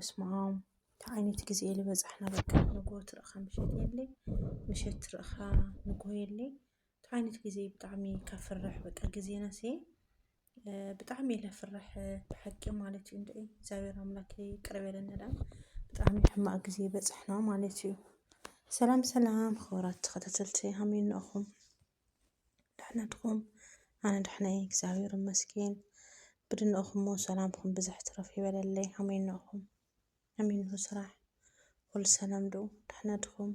በስመኣም እንታይ ዓይነት ግዜ እዩ ዝበፅሐና በቃ ንግሆ ትረእኻ ምሸት የለይ ምሸት ትረእኻ ንግሆ የለይ እንታይ ዓይነት ግዜ እዩ ብጣዕሚ ካብ ፍርሕ በቃ ግዜናስ ብጣዕሚ እየ ለፍርሕ ብሓቂ ማለት እዩ እንድዒ እግዚኣብሔር ኣምላክ ይቅረ በለና ድኣ ብጣዕሚ ሕማቅ ግዜ በፅሕና ማለት እዩ ሰላም ሰላም ክቡራት ተኸታተልቲ ሃመይ እንኣኹም ደሕና ድኹም? ኣነ ደሕና እየ እግዚኣብሔር ይመስገን። ብድንቕኹሞ ሰላምኩም ብዝሕ ትረፍ ይበለለይ። ኣሜን ንእኹም ኣሜን ንሁ ስራሕ ኩሉ ሰላም ዶ ደሕና ድኹም?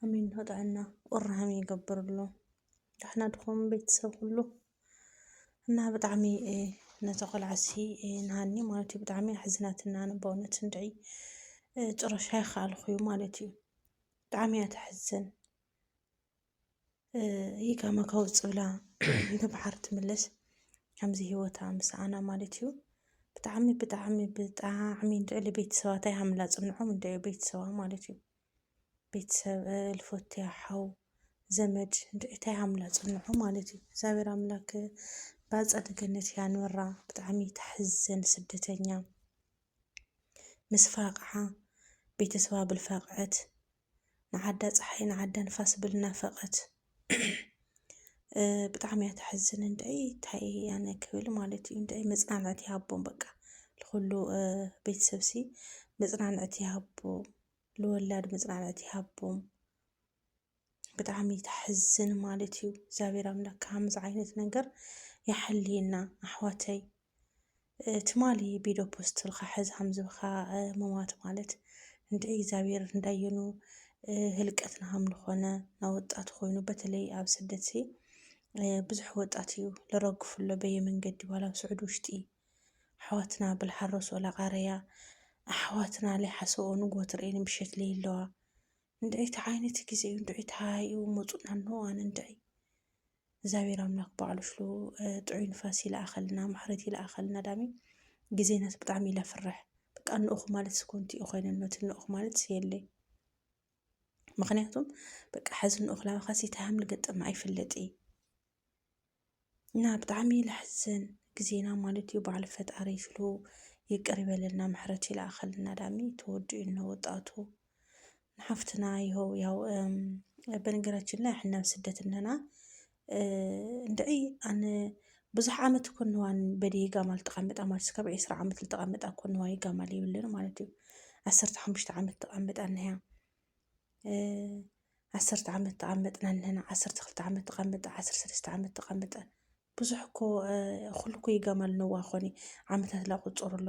ኣሜን ንሁ ጥዕና ቁራሃም ይገብርሉ ደሕና ድኹም ቤተሰብ ኩሉ እና ብጣዕሚ ነቲ ቆልዓሲ ንሃኒ ማለት እዩ ብጣዕሚ ኣሕዝናትና ነ በእውነት እንድዒ ጭረሻ ይኸኣልኹዩ ማለት እዩ ብጣዕሚ እያ ተሕዝን ይህ ከመካው ጽብላ ንብሓር ትምለስ ከምዚ ሂወታ ምሳኣና ማለት እዩ ብጣዕሚ ብጣዕሚ ብጣዕሚ ልዕሊ ቤተሰባት ኣይሃምላ ጽንሖም እንደ ቤተሰባ ማለት እዩ ቤተሰብ ልፎትያ ሓው ዘመድ እንድዒታ ይሃምላ ጽንሖ ማለት እዩ እግዚኣብሔር ኣምላክ ብኣጸደ ገነት ያንብራ ብጣዕሚ ተሕዘን ስደተኛ ምስ ፋቕዓ ቤተሰባ ብልፋቕዐት ንዓዳ ፀሓይ ንዓዳ ንፋስ ብል ናፈቀት ብጣዕሚ እያ ተሕዝን እንድዒ ታይ ኣነ ክብል ማለት እዩ እንድዒ መፅናናዕቲ ይሃቦም በቃ ንኩሉ ቤተሰብ ሲ መፅናናዕቲ ይሃቦም ንወላድ መፅናናዕቲ ይሃቦም ብጣዕሚ ተሕዝን ማለት እዩ እግዚኣብሔር ኣምላክ ከምዚ ዓይነት ነገር ይሓልየና ኣሕዋተይ ትማሊ ቢዶ ፖስት ልካ ሕዛም ዝብካ መማት ማለት እንደ እግዚኣብሔር እንዳየኑ ህልቀት ናሃም ንኾነ ናብ ወጣት ኮይኑ በተለይ ኣብ ስደት ሲ ብዙሕ ወጣት እዩ ለረግፍሎ በየ መንገዲ ባላ ኣብ ስዑድ ውሽጢ ኣሕዋትና ብልሓረሶ ላቃረያ ኣሕዋትና ለይሓሰኦ ንጎት ርእን ምሸት ለይለዋ እንድዒ ተዓይነት ጊዜ እዩ እንድዒ ተሃይኡ መፁና ኖዋን እንድዒ እግዚኣብሔር ኣምላክ ባዕሉ ሽሉ ጥዑይ ንፋስ ይልኣኸልና ማሕረት ይልኣኸልና ዳሚ ግዜ ናት ብጣዕሚ ኢለ ፍርሕ በቃ እንእኹ ማለት ስኮንቲ እዩ ኮይነኖ እቲ እንእኹ ማለት ስየለይ ምክንያቱም በቃ ሕዚ እንእኹ ላባኻሲ ታሃም ልገጠመ ኣይፍለጥ እዩ እና ብጣዕሚ ለሕዝን ግዜና ማለት እዩ በዓል ፈጣሪ ሽሉ ይቅር ይበለልና ምሕረት ይልኣኸልና ዳሚ ተወዲኡ እነ ወጣቱ ንሓፍትና ይኸው ያው በነገራችን ላይ ሕና ስደት እነና እንድዒ ኣነ ብዙሕ ዓመት እኮ ንዋን በዲ ጋማል ተቐምጣ ማለት እስከ ዕስራ ዓመት ዝተቐምጣ እኮ ንዋይ ጋማል ይብልን ማለት እዩ ዓሰርተ ሓሙሽተ ዓመት ተቐምጣ ንያ ዓሰርተ ዓመት ተቐመጥና ንና ዓሰርተ ክልተ ዓመት ተቐምጣ ዓስር ሰለስተ ዓመት ተቐምጠ ብዙሕ እኮ ኩሉ እኮ ይጋማል ነዋ ኮኒ ዓመታት ላቁፅሩ ኣሎ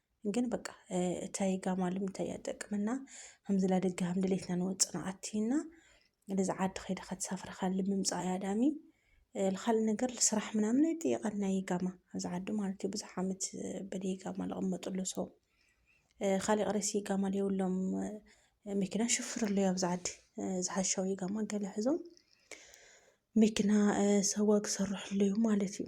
ግን በቃ እታይ ጋማልም እንታይ እያ ጠቅምና ከምዝላ ደጋ ሃምድሌትና ንወፅና ኣትይና ነዚ ዓዲ ከይደ ከተሳፍረ ካል ምምፃእ እያ ዳሚ ካልእ ነገር ስራሕ ምናምን ኣይጥየቀን ናይ ጋማ ኣብዚ ዓዲ ማለት እዩ ብዙሕ ዓመት በደይ ጋማ ዝቕመጥሉ ሰው ካሊእ ቅሬሲ ጋማ የብሎም መኪና ሽፍር ኣለዩ ኣብዚ ዓዲ ዝሓሻዊ ጋማ ገለ ሕዞም መኪና ሰዋ ክሰርሑ ኣለዩ ማለት እዩ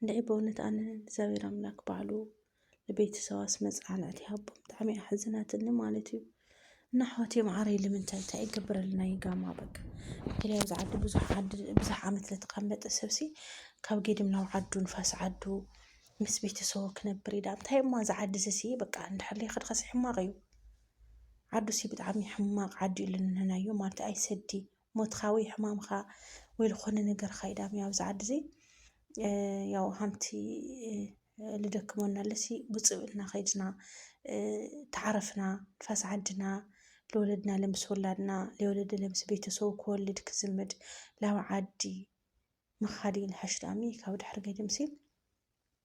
እንድዒ በእውነት ኣነ እግዚኣብሔር ኣምላክ ባዕሉ ንቤተሰባስ መፅናዕቲ ሃቦም ብጣዕሚ እያ ኣሕዝናትኒ ማለት እዩ እና ኣሕዋት የምዓረይ ልምንታይ እንታይ ይገብረልና እዩ ጋማ በቃ እንግዲህ ኣብዚ ዓዲ ብዙሕ ዓዲ ብዙሕ ዓመት ለተቐመጠ ሰብሲ ካብ ጌድም ናብ ዓዱ ንፋስ ዓዱ ምስ ቤተሰቡ ክነብር ኢዳ እንታይ እማ እዚ ዓዲ እዚ ሲ በቃ እንድሕለይ ከድኸሲ ሕማቕ እዩ ዓዱ ሲ ብጣዕሚ ሕማቕ ዓዲ እዩ ልንህናዮ ማለት ኣይሰዲ ሞትካ ወይ ሕማምካ ወይ ልኾነ ነገርካ ይዳም ኣብዚ ዓዲ እዚ ያው ሃምቲ ልደክመና ኣለሲ ብፅብእልና ከይድና ተዓረፍና ንፋስ ዓድና ለወለድና ለምስ ወላድና ለወለደ ለምስ ቤተሰቡ ክወልድ ክዝምድ ላብ ዓዲ ምኻድ ይንሐሽ ዳሚ ካብ ድሕር ገድምሲ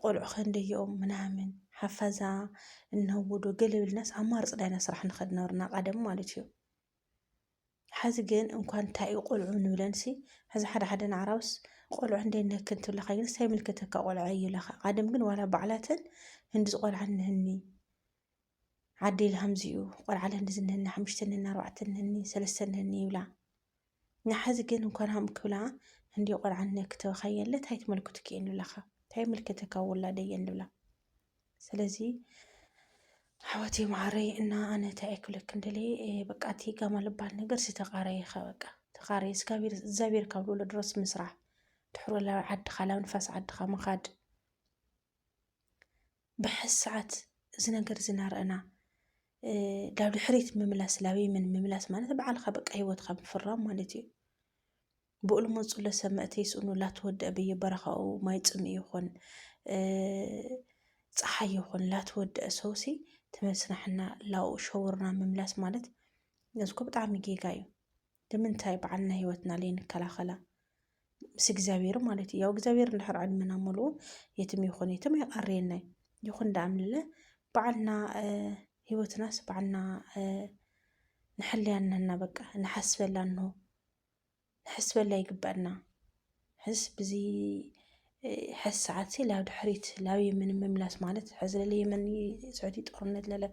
ቆልዑ ከንደይኦም ምናምን ሓፋዛ እነውዶ ገለ ብልናስ ኣማርፅ ዳይና ስራሕ ንኸድ ነበርና ቀደም ማለት እዩ። ሓዚ ግን እንኳን እንታይ እዩ ቆልዑ ንብለንሲ ሕዚ ሓደ ሓደ ናዕራውስ ቆልዑ እንደ ነክ እንትብለካ ግን ሳይ ምልክተካ ቆልዑ እዩ ለካ ቀደም ግን ዋላ ባዕላተን ህንዲ ዝቆልዓ ንህኒ ዓዲ ኢሉ ከምዚ'ዩ ቆልዓ ለንዲ ዝንህኒ ሓሙሽተ ነኒ ኣርባዕተ ነኒ ሰለስተ ነኒ ይብላ ንሓዚ ግን እንኳን ሃም ክብላ እንዲ ቆልዓ ነ ክተበኻየለ እንታይ ትመልክቱ ክየን ንብላኻ እንታይ ምልከተካ ወላደየን ንብላ ስለዚ ኣሕዋተይ መዓረይ እና ኣነ እንታይ እየ ክብለክ እንደለ በቃ እቲ ጋማ ልባል ነገር ዝተቃረየ ከ በቃ ተቃረየ ስጋቢር እግዚኣብሔር ካብ ልብሎ ድረስ ምስራሕ ትሕሮ ላብ ዓድኻ ላብ ንፋስ ዓድኻ ምኻድ ብሓዚ ሰዓት እዚ ነገር እዚ እናረእና ዳብ ድሕሪት ምምላስ ላብ የመን ምምላስ ማለት በዓልካ በቃ ሂወትካ ምፍራም ማለት እዩ ብኡ ልመፁለ ሰብ መእተ ይስእኑ ላትወድአ በየበረኻኡ ማይ ፅምኢ ይኹን ፀሓይ ይኹን ላትወድአ ሰውሲ ትመስናሕና ላኡ ሸውርና ምምላስ ማለት እዚኮ ብጣዕሚ ጌጋ እዩ ንምንታይ ባዕልና ህይወትና ለይንከላኸላ ምስ እግዚኣብሔር ማለት እዩ ያው እግዚኣብሔር እንድሕር ዕድመና ሙሉኡ የትም ይኹን የትም ኣይቐርየናይ ይኹን ዳኣምልለ ባዕልና ህይወትናስ ባዕልና ንሕልያ ንህና በቃ ንሓስበላ እንሆ ንሕስበላ ይግበአና ሕስ ብዚ ሕስ ሰዓትሲ ላብ ድሕሪት ላብ የመን ምምላስ ማለት ሕዚ ለለ የመን ስዑዲ ጦርነት ለለ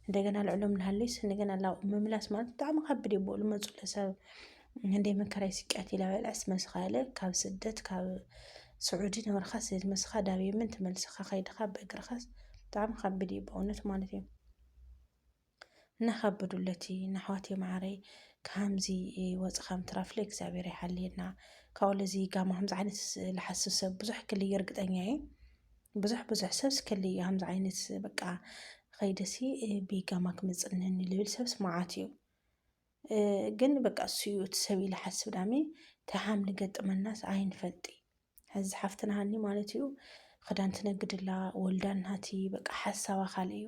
እንደገና ልዕሎም ልሃለይስ እንደገና ላብ ምምላስ ማለት ብጣዕሚ ከብድ እዩ ብኡ ልመፁ ለሰብ እንደይ መከራይ ስቅያት ይላበልዐስ መስኻለ ካብ ስደት ካብ ስዑዲ ንበርኻስ መስኻ ዳብ የመን ተመልስኻ ከይድኻ በእግርኻስ ብጣዕሚ ከብድ እዩ በእውነት ማለት እዩ እናኻበዱለቲ ናሕዋቴ ማዓረይ ካሃምዚ ወፅኻ ምትራፍ ለእግዚኣብሔር ይሓልየና ካብኡ ለዚ ጋማ ከምዚ ዓይነት ልሓስብ ሰብ ብዙሕ ክልዩ እርግጠኛ እየ ብዙሕ ብዙሕ ሰብስ ክልዩ ከምዚ ዓይነት በቃ ኸይደሲ ብጋማ ክምፅነኒ ልብል ሰብስ መዓት እዩ ግን በቃ እሱ እዩ እቲ ሰብ ኢለ ሓስብ ዳሜ ተሓም ንገጥመናስ ኣይንፈልጢ ሕዚ ሓፍትና ሃኒ ማለት እዩ ክዳን ትነግድላ ወልዳ እናቲ በቃ ሓሳባ ካልእ እዩ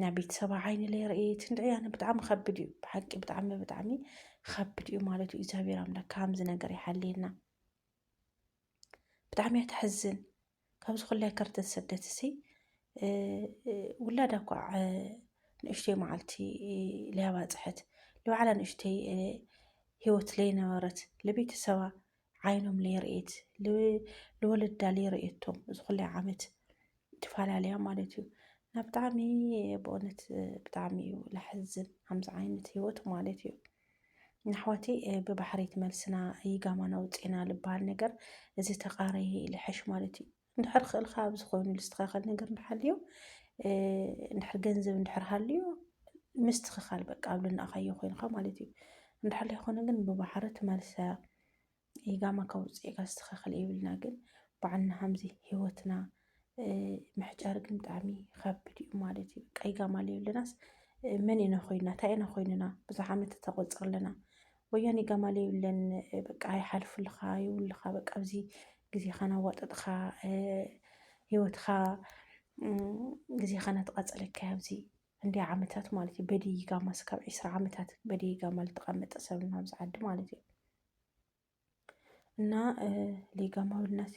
ናይ ቤተሰባ ዓይኒ ለይ ርእየት እንድዒ ኣነ ብጣዕሚ ከብድ እዩ ብሓቂ ብጣዕሚ ብጣዕሚ ከብድ እዩ ማለት እዩ እግዚኣብሔር ኣምላክ ከምዚ ነገር ይሓልየና ብጣዕሚ እያ ተሕዝን ካብዚ ኩላይ ከርተት ስደት እሲ ውላዳ እኳ ንእሽተይ መዓልቲ ለያባፅሐት ንባዕላ ንእሽተይ ህይወት ለይነበረት ለቤተሰባ ዓይኖም ለይርእት ልወለዳ ለይርእየቶም እዚ ኩላይ ዓመት ትፈላለያ ማለት እዩ እና ብጣዕሚ ብእውነት ብጣዕሚ እዩ ለሕዝን ከምዚ ዓይነት ህይወት ማለት እዩ ንኣሕዋቲ ብባሕሪት መልስና ይጋማና ውፅና ዝበሃል ነገር እዚ ተቃረየ ይልሕሽ ማለት እዩ እንድሕር ክእልካ ኣብ ዝኾኑ ዝስተኻኸል ነገር እንድሓልዮ እንድሕር ገንዘብ እንድሕር ሃልዮ ምስትኽኻል በቃ ኣብ ልናእኻዮ ኮይንካ ማለት እዩ እንድሕር ዘይኮነ ግን ብባሕሪ ትመልሰ ኢጋማ ካብ ውፅኢካ ዝስተኻኸል የብልና ግን በዓልና ሃምዚ ሂወትና ምሕጫር ግን ብጣዕሚ ይኸብድ እዩ ማለት እዩ በቃ ኢጋማ ኣለናስ መን ኢና ኮይና እንታይ ኢና ኮይንና ብዙሕ ዓመት ተቆፅር ኣለና ወያኔ ጋማለ ይብለን በቃ ይሓልፉልኻ ይብሉኻ በቃ ኣብዚ ግዜኻ ናዋጠጥኻ ሂወትኻ ግዜኻ ናተቓፀለካ ኣብዚ እንዲያ ዓመታት ማለት እዩ በድይ ጋማ ስካብ ዒስራ ዓመታት በድይ ጋማ ዝተቐመጠ ሰብ ኣብዚ ዓዲ ማለት እዩ እና ሌጋማዊ ልናሲ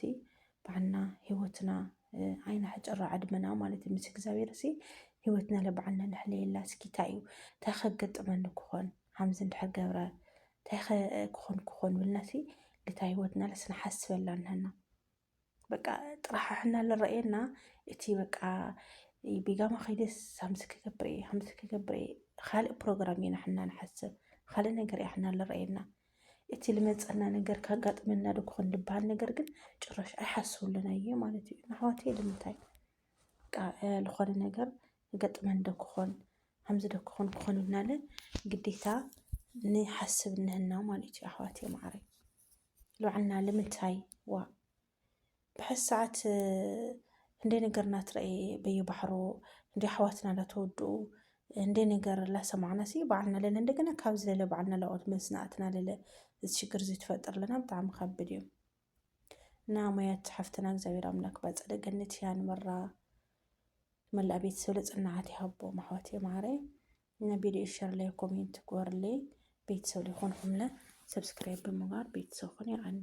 ባዕልና ህይወትና ኣይናሕጭራ ዕድመና ማለት ምስ እግዚኣብሔር ሲ ህይወትና ለባዕልና ንሕለየላ እስኪ እንታይ እዩ እንታይ ከገጥመኒ ክኾን ሓምዚ እንድሕር ገብረ እንታይ ክኾን ክኾን ብልና ሲ ልታ ህይወትና ለስንሓስበላ ንህና በቃ ጥራሕሕና ልረኣየና እቲ በቃ ቢጋማ ከይደስ ሃምስ ክገብረ እየ ሃምስ ክገብረ እየ ካልእ ፕሮግራም ኢና ሕና ንሓስብ ካልእ ነገር እያ ሕና ልረኣየና እቲ ልመፀና ነገር ካጋጥመና ዶ ክኾን ልበሃል ነገር ግን ጭራሽ ኣይሓስብሉን ኣየ ማለት እዩ ንኣሕዋት እየ ልምንታይ ልኾነ ነገር ገጥመን ዶ ክኾን ሃምዚ ዶ ክኾን ክኾን ኢልናለ ግዴታ ንሓስብ እነህና ማለት እዩ ኣሕዋት እየ ማዕረይ ይብሉዓና ልምንታይ ዋ ብሐዚ ሰዓት እንደ ነገር ናትረኤ በየባሕሮ እንደ ኣሕዋትና ላተወድኡ እንደ ነገር ላሰማዕና ሲ በዓልና ለለ እንደገና ካብ ዝለለ በዓልና ላኦት መዝናእትና ለለ እዚ ሽግር እዚ ትፈጥር ለና ብጣዕሚ ከብድ እዩ እና ሙያት ሓፍትና እግዚኣብሔር ኣምላክ ባጸደ ገነት ያንብራ መላእ ቤተሰብ ለጽናዓት ይሃቦ ማሕዋት የማዕረ ንቪድዮ ሸር ላይ ኮሜንት ግበሩለይ ቤተሰብ ሊኾንኹምለ ሰብስክራይብ ብምግባር ቤተሰብ ኹን ይዓኒ